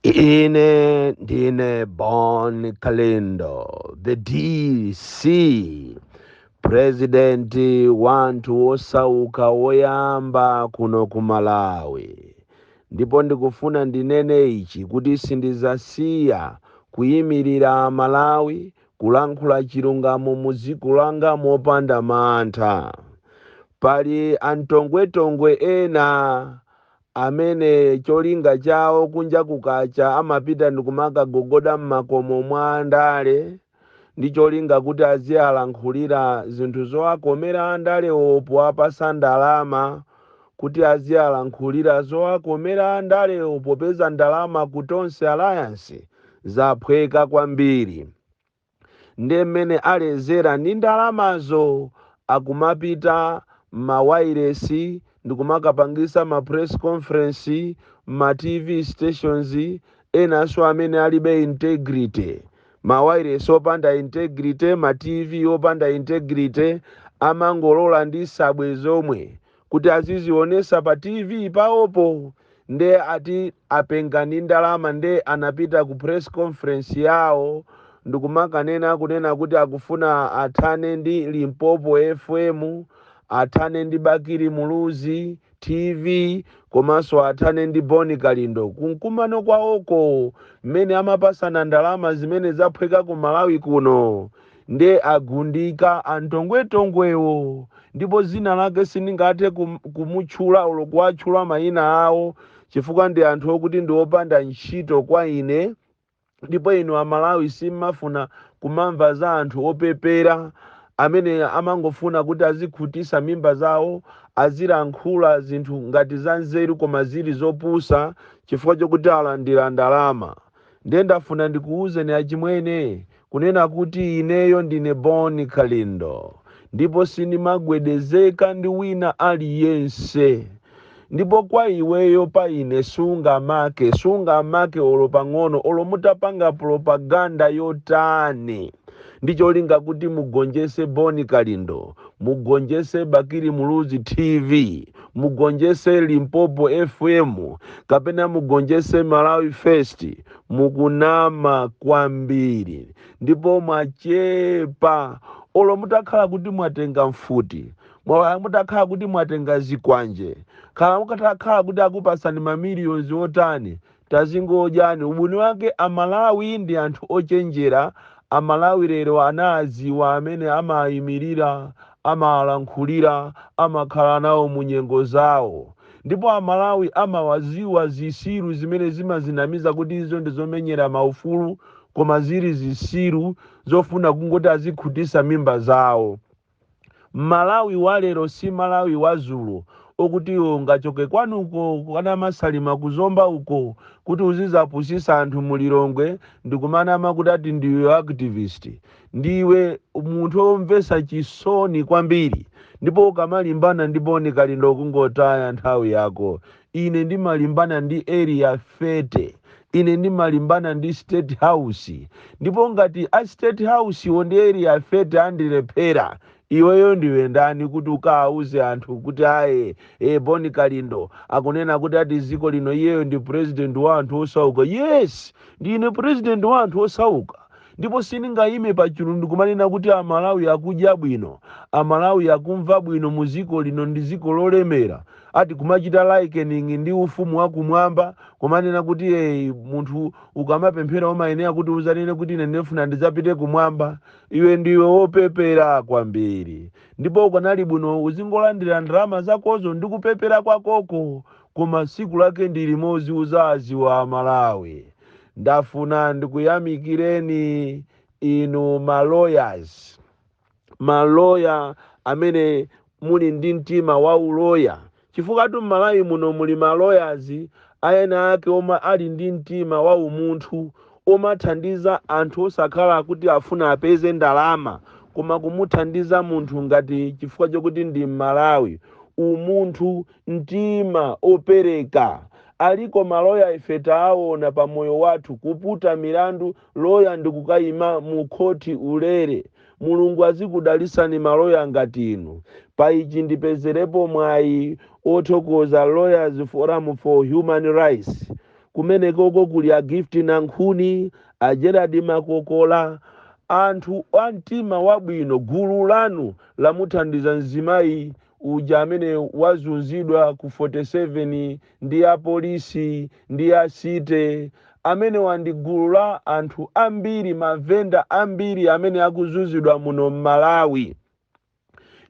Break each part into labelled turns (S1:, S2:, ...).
S1: Ine ndine Bon Kalindo, the DC, president wanthu wosauka woyamba kuno ku Malawi. Ndipo ndikufuna ndinene ichi kuti sindizasiya kuyimirira Malawi kulankhula chilungamo mu dziko langa mopanda mantha. Pali antongwetongwe ena amene cholinga chawo kunja kukacha amapita ndikumakagogoda mmakomo mwa andale ndi cholinga kuti azialankhulira zinthu zowakomera andalewo powapasa ndalama kuti azialankhulira zowakomera andalewo popeza ndalama ku Tonse Alliance zaphweka kwambiri. nde mene alezera ndi ndalamazo akumapita mma wailesi ndikumakapangisa ma press conference mma tv stations enanso amene alibe integrity. Ma wailesi opanda integrity, ma tv opanda integrity amangolola ndi sabwe zomwe kuti azizionesa pa tv paopo nde ati apenga ndi ndalama nde anapita ku press conference yao ndikumakanena kunena kuti akufuna athane ndi limpopo fm athane ndi bakili muluzi tv komanso athane ndi boni kalindo kumkumano kwaoko mmene amapasana ndalama zimene zaphweka ku malawi kuno Nde agundika antongwetongwewo ndipo zina lake sindingathe kumutchula olo kuwatchula mayina awo chifukwa ndi anthu okuti ndi opanda ntchito kwa ine ndipo inu amalawi simmafuna kumamva za anthu opepera amene amangofuna kuti azikhutisa mimba zawo azilankhula zinthu ngati za nzeru koma zili zopusa chifukwa chokuti alandira ndalama. ndiye ndafuna ndikuwuzeni achimwene kunena kuti ineyo ndine Bon Kalindo ndipo sindimagwedezeka ndi wina aliyense ndipo kwa iweyo pa ine sungamake sungamake olo pang'ono olo mutapanga propaganda yotani ndi cholinga kuti mugonjese Bon Kalindo mugonjese Bakili Muluzi TV mugonjese limpopo fm kapena mugonjese malawi first mukunama kwambiri ndipo mwachepa olo mutakhala kuti mwatenga mfuti mwa- mutakhala kuti mwatenga zikwanje khala mukatakhala kuti akupasani mamiliyonzi otani Tazingodyani ubwino wake a Malawi ndi anthu ochenjera a Malawi lero anaaziwa amene amaayimilira, amaalankhulira, amakhala nawo mu nyengo zawo. Ndipo a Malawi amawaziwa zisiru zimene zimazinamiza kuti izo ndi zomenyera ma ufulu koma ziri zisiru zofuna kungoti azikhutisa mimba zawo. Malawi walero si Malawi wazulo okuti iwe ungachoke kwanuko kwa Namasalima ku Zomba uko kuti uzizapusisa anthu mu Lilongwe ndikumanama kuti ati ndiwe activist. Ndiwe munthu omvesa chisoni kwambiri ndipo ukamalimbana ndi Bon Kalindo ungotaya nthawi yako Ine ndimalimbana ndi Area 30. Ine ndimalimbana ndi State House. Ndipo ngati a State House wo ndi Area 30 andilephera, iweyo ndiwe ndani kuti ukawauze anthu kuti aye, e, Bon Kalindo akunena kuti ati dziko lino iyeyo ndi President wa anthu osauka. Yes! Ndine President wa anthu osauka. Ndipo sindingayime pachulu ndikumanena kuti a Malawi akudya bwino, a Malawi akumva bwino mu ziko lino ndi ziko lolemera, ati kumachita likening ndi ufumu wa kumwamba, kumanena kuti ee munthu ukamapemphera umayenera kuti uzanene kuti ine ndifuna ndizapite kumwamba, iwe ndiwe wopepera kwambiri ndipo ukanali bwino uzingolandira ndalama zakozo ndi kupepera kwakoko koma siku lake ndi limodzi uzaziwa a Malawi. ndafuna ndikuyamikireni inu ma lawyers maloya amene muli ndi mtima wa uloya chifukwatu m'malawi muno muli ma lawyers ayena ake omwe ali ndi mtima wa umunthu omathandiza anthu osakhala kuti afuna apeze ndalama koma kumuthandiza munthu ngati chifukwa chokuti ndi m'malawi umunthu mtima opereka aliko maloya ife taawona pa moyo wathu kuputa milandu loya ndikukayima mu khoti ulere mulungu azikudalisani maloya ngati inu pa ichi ndipezelepo mwayi othokoza lawyers forum for human rights kumenekoko kuli a gift nankhuni a gerald makokola anthu a mtima wabwino gulu lanu lamuthandiza mzimayi uja amene wazunzidwa ku 47 ndi a polisi ndi a city amenewa ndi gulu la anthu ambiri mavenda ambiri amene akuzunzidwa muno m'malawi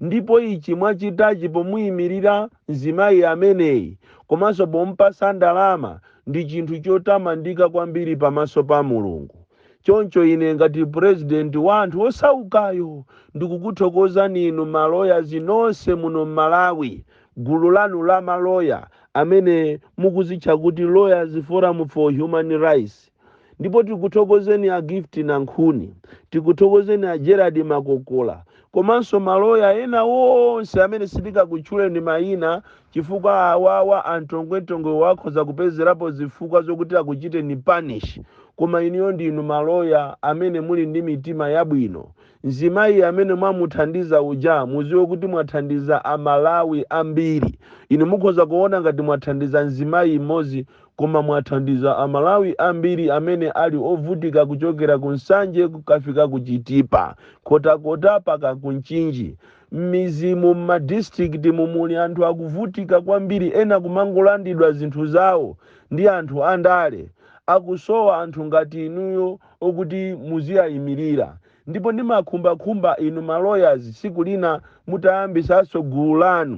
S1: ndipo ichi mwachitachi pomuyimirira mzimayi ameneyi komanso pomupasa ndalama ndi chinthu chotamandika kwambiri pamaso pa mulungu choncho ine ngati president wa anthu osaukayo ndikukuthokozani inu ma lawyers nonse muno mmalawi gulu lanu la ma lawyer amene mukuzitcha kuti lawyers forum for human rights ndipo tikuthokozeni a gift nankhuni tikuthokozeni a gerald makokola komanso maloya ena onse amene sitikakutchuleni mayina chifukwa awawa amtongwemtongwewa akhoza kupezerapo zifukwa zokuti akuchiteni punish koma inuyo ndinu ma lawyer amene muli ndi mitima yabwino. Mzimayi amene mwamuthandiza uja muziwe kuti mwathandiza a Malawi ambiri. Inu mukhoza kuona ngati mwathandiza mzimayi m'modzi koma mwathandiza a Malawi ambiri amene ali ovutika kuchokera ku Nsanje kukafika ku Chitipa, Nkhotakota paka ku Mchinji. Mmizimu mma districtimu muli anthu akuvutika kwambiri ena kumangolandidwa zinthu zawo ndi anthu andale. Akusowa anthu ngati inuyo okuti muziwaimilira. Ndipo ndimakhumba khumba inu ma lawyers tsiku lina mutayambisanso gulu lanu.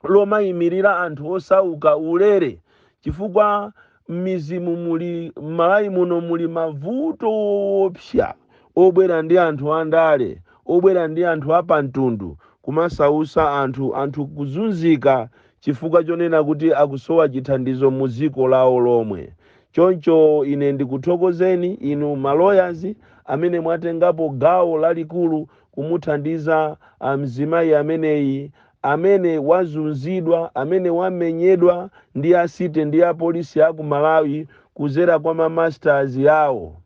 S1: lomaimilira anthu osauka ulere chifukwa mmidzimu muli mmalawi muno muli mavuto oopsa obwera ndi anthu andale obwera ndi anthu apamtundu kumasausa anthu anthu kuzunzika chifukwa chonena kuti akusowa chithandizo mu dziko lawo lomwe choncho ine ndikuthokozeni inu ma lawyers amene mwatengapo gawo lalikulu kumuthandiza ah, mzimayi ameneyi amene wazunzidwa, amene wamenyedwa ndi a city ndi a police aku Malawi kuzera kwa ma masters awo.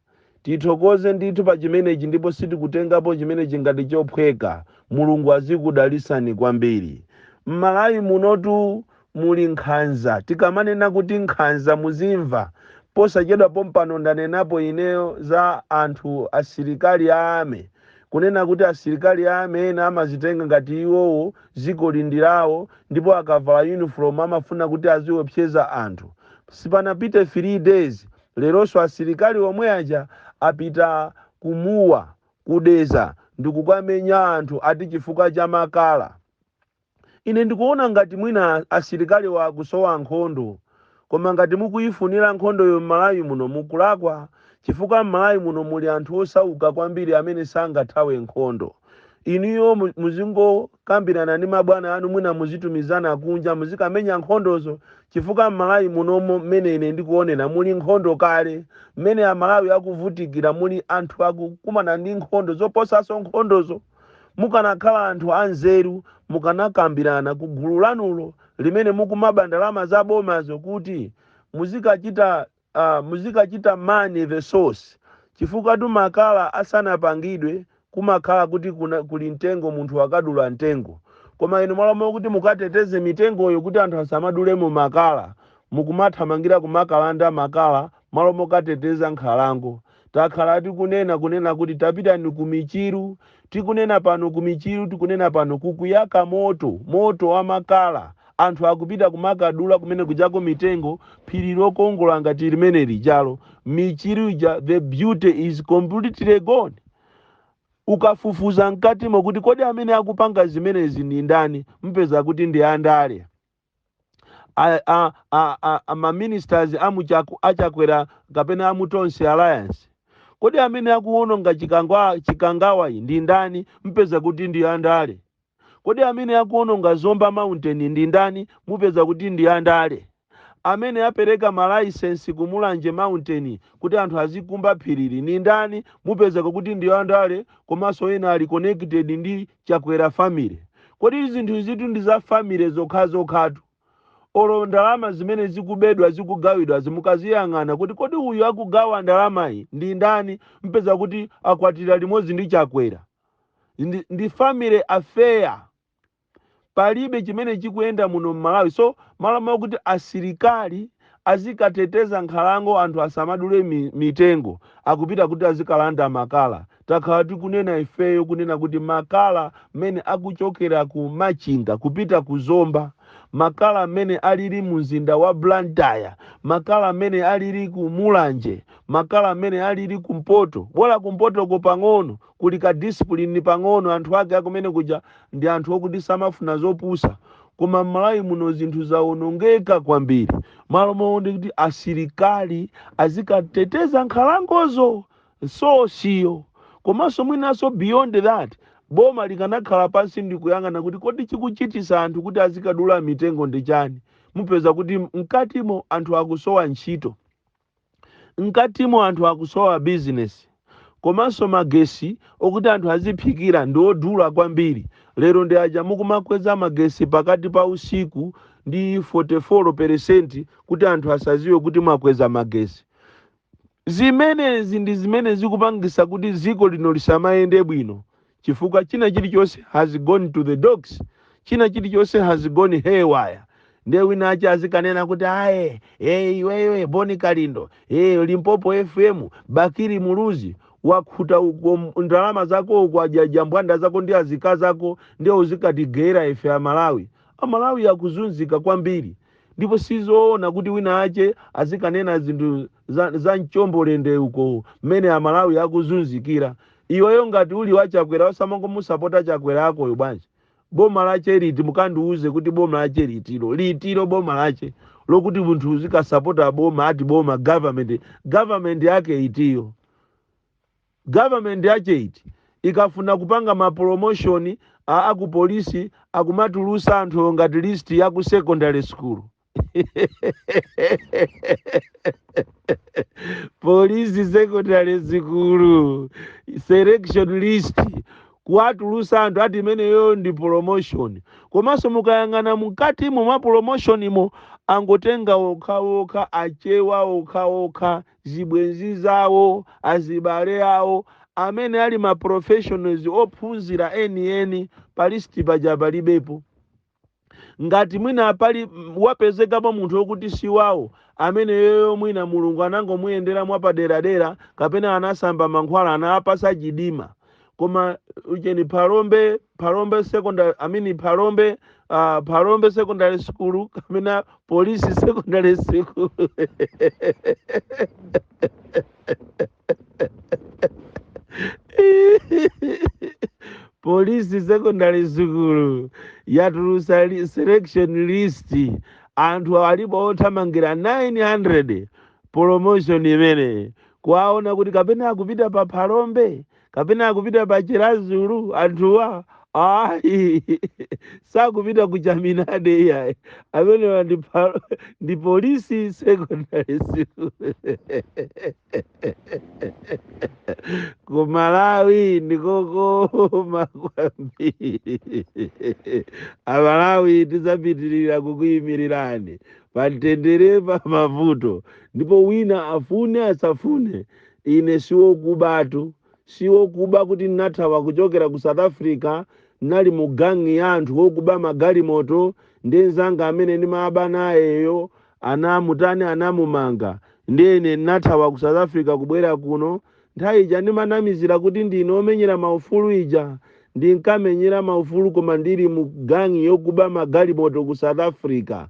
S1: Tithokoze ndithu pa chimenechi ndipo sitikutengapo chimenechi ngati chophweka. Mulungu azikudalisani kwambiri. Mmalawi munotu muli nkhanza tikamanena kuti nkhanza muzimva posachedwa pompano ndanenapo ineyo za anthu asilikali a army kunena kuti asilikali a army ena amazitenga ngati iwowo dzikoli ndi lawo ndipo akavala uniform amafuna kuti aziopseza anthu sipanapite 3 days leronso asilikali omwe aja apita ku Mua ku Dedza ndikukamenya anthu ati chifukwa cha makala Ine ndikuona ngati mwina asilikaliwa akusowa nkhondo koma ngati mukuyifunira nkhondoyo m'Malawi muno mukulakwa chifukwa m'Malawi muno muli anthu osauka kwambiri amene sangathawe nkhondo. Inuyo muzingokambirana ndi mabwana anu mwina muzitumizana kunja muzikamenya nkhondozo chifukwa m'Malawi munomo mmene ine ndikuonera muli nkhondo kale. Mmene Amalawi akuvutikira muli anthu akukumana ndi nkhondo zoposanso nkhondozo. Mukanakhala anthu anzeru mukanakambirana ku gulu lanulo limene mukumaba ndalama za bomazo kuti muzikachita uh, muzikachita man the source chifukwatu makala asanapangidwe kumakhala kuti kuna, kuli mtengo munthu akadula mtengo koma inu malo mokuti mukateteze mitengoyo kuti anthu asamadulemo makala mukumathamangira kumakalanda makala malo mokateteza nkhalango Takhala tikunena, kunena kuti tapitani ku michiru, tikunena pano ku Michiru, tikunena pano, kukuyaka moto, moto wa makala. Anthu akupita kumakadula kumene kujako mitengo, phiri lokongola ngati limene lijalo, Michiru ija, the beauty is completely gone. Ukafufuza mkatimo kuti kodi amene akupanga zimenezi ndi ndani, mupeza kuti ndi andale. a, a, a, a, a maministers amuchaku a Chakwera kapena a mu Tonse Alliance kodi amene akuwononga chikangwa chikangawa iyi ndi ndani mpeza kuti ndi andale kodi amene akuwononga Zomba Mountain ndi ndani mupeza kuti ndi andale amene apereka malaisensi ku Mulanje Mountain kuti anthu azikumba phirili ndi ndani mupezeka kuti ndi andale komanso ena ali connected ndi Chakwera family? Kodi zinthu izitu ndi za family zokhazokhatu? Olo ndalama zimene zikubedwa zikugawidwazi mukaziyang'ana kuti kodi uyu akugawa ndalamayi ndi ndani mpeza kuti akwatira limodzi ndi Chakwera. Ndi, ndi family affair. Palibe chimene chikuyenda muno m'Malawi. So malo mwa kuti asilikali azikateteza nkhalango anthu asamadule mi, mitengo akupita kuti azikalanda makala takhala tikunena ifeyo kunena kuti makala mmene akuchokera ku Machinga kupita ku Zomba makala mmene alili mu mzinda wa Blantyre makala mmene alili ku Mulanje makala mmene alili kumpoto bola kumpotoko pang'ono kuli ka discipline pang'ono anthu ake akumene kuja ndi anthu okuti samafuna zopusa Koma m'Malawi muno zinthu zawonongeka kwambiri. Malo moti kuti asilikali azikateteza nkhalangozo, sosiyo. Komanso mwinanso beyond that, boma likanakhala pansi ndi kuyang'ana kuti kodi chikuchitisa anthu kuti azikadula mitengo ndi chani? Mupeza kuti mkatimo anthu akusowa ntchito. Mkatimo anthu akusowa business komanso magesi okuti anthu aziphikira ndi odula kwambiri lero ndi aja mukumakweza magesi pakati pa usiku ndi 44 percent kuti anthu asaziwe kuti mwakweza magesi. Zimenezi ndi zimene zikupangisa kuti dziko lino lisamayende bwino chifukwa china chilichonse has gone to the dogs china chilichonse has gone haywire ndiye wina ache azikanena kuti aye iweyo boni kalindo e limpopo fm bakili muluzi wakhuta uko m- ndalama zako uko kwa jambwanda zako ndi azikazi ako ndiye uzikatigera ife amalawi amalawi akuzunzika kwambiri ndipo sizoona kuti wina ache azikanena zinthu za, za mchombolende uko mmene amalawi akuzunzikira Iweyo ngati uli wa chakwera osamangomusapota chakwera akoyo bwanji? Boma lache liti mukandiuze kuti boma lache litiro litiro boma lache lokuti munthu uzikasapota boma ati boma government government yake itiyo? Government yache iti? Ikafuna kupanga ma promotion a akupolisi akumatulusa anthuwo ngati list ya ku secondary school. polisi secondary sukulu selection list kuwatulusa anthu ati imeneyo ndi promotion komanso mukayang'ana mkatimo mwa promotionimo angotenga okhaokha achewa okhaokha zibwenzi zawo azibale awo amene ali ma professionals ophunzira enieni pa list paja palibepo ngati mwina pali mm, wapezekapo munthu wokuti si wawo ameneyoyo mwina mulungu anangomuyendera mwapaderadera kapena anasamba mankhwala anawapatsa chidima koma ucheni phalombe phalombe secondary i mean phalombe uh, phalombe secondary school kapena polisi secondary school polisi secondary school yatulusa li- selection list anthu alipo othamangira 900 promotion imene kuwaona kuti kapena akupita pa phalombe kapena akupita pa chiradzulu anthuwa ayi sakupita ku chaminade iyayi amenewa ndi phalo- ndi polisi secondary school Ku Malawi ndikokoma kwambiri. Amalawi tidzapitirira kukuyimirirani pa mtendere pa mavuto ndipo wina afune asafune ine siwokubatu siwokuba kuti ndinathawa kuchokera ku south africa ndinali mu gangi ya anthu wokuba magalimoto ndi mzanga amene ndimaba nayeyo anamutani anamumanga ndiye ine ndinathawa ku south africa kubwera kuno nthawi ija ndimanamizira kuti ndine omenyera maufulu ija ndinkamenyera maufulu koma ndili mu gang yokuba magalimoto ku south africa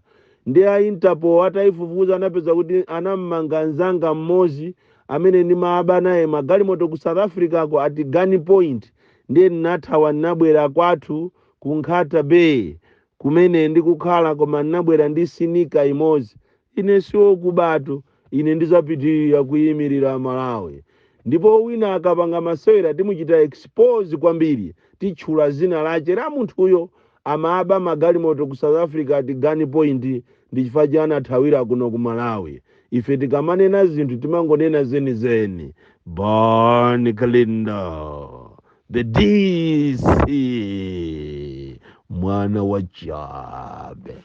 S1: ndi a interpol ataifufuza anapeza kuti anamumanga nzanga mmodzi amene ndimaaba naye magalimoto ku south africa ko at gun point ndiye ndinathawa ndinabwera kwathu ku nkhata bay kumene ndikukhala, koma ndinabwera ndi sinika imodzi. Ine siwokubatu, ine ndizapitirira kuimirira Malawi. Ndipo wina akapanga masewera timuchita expose kwambiri, titchula zina lache la munthuyo. Amaba magalimoto ku South Africa at Gun Point ndi chifukwa che anathawira kuno ku Malawi. Ife tikamanena zinthu timangonena zenizeni. Bon Kalindo. the dc mwana wa chabe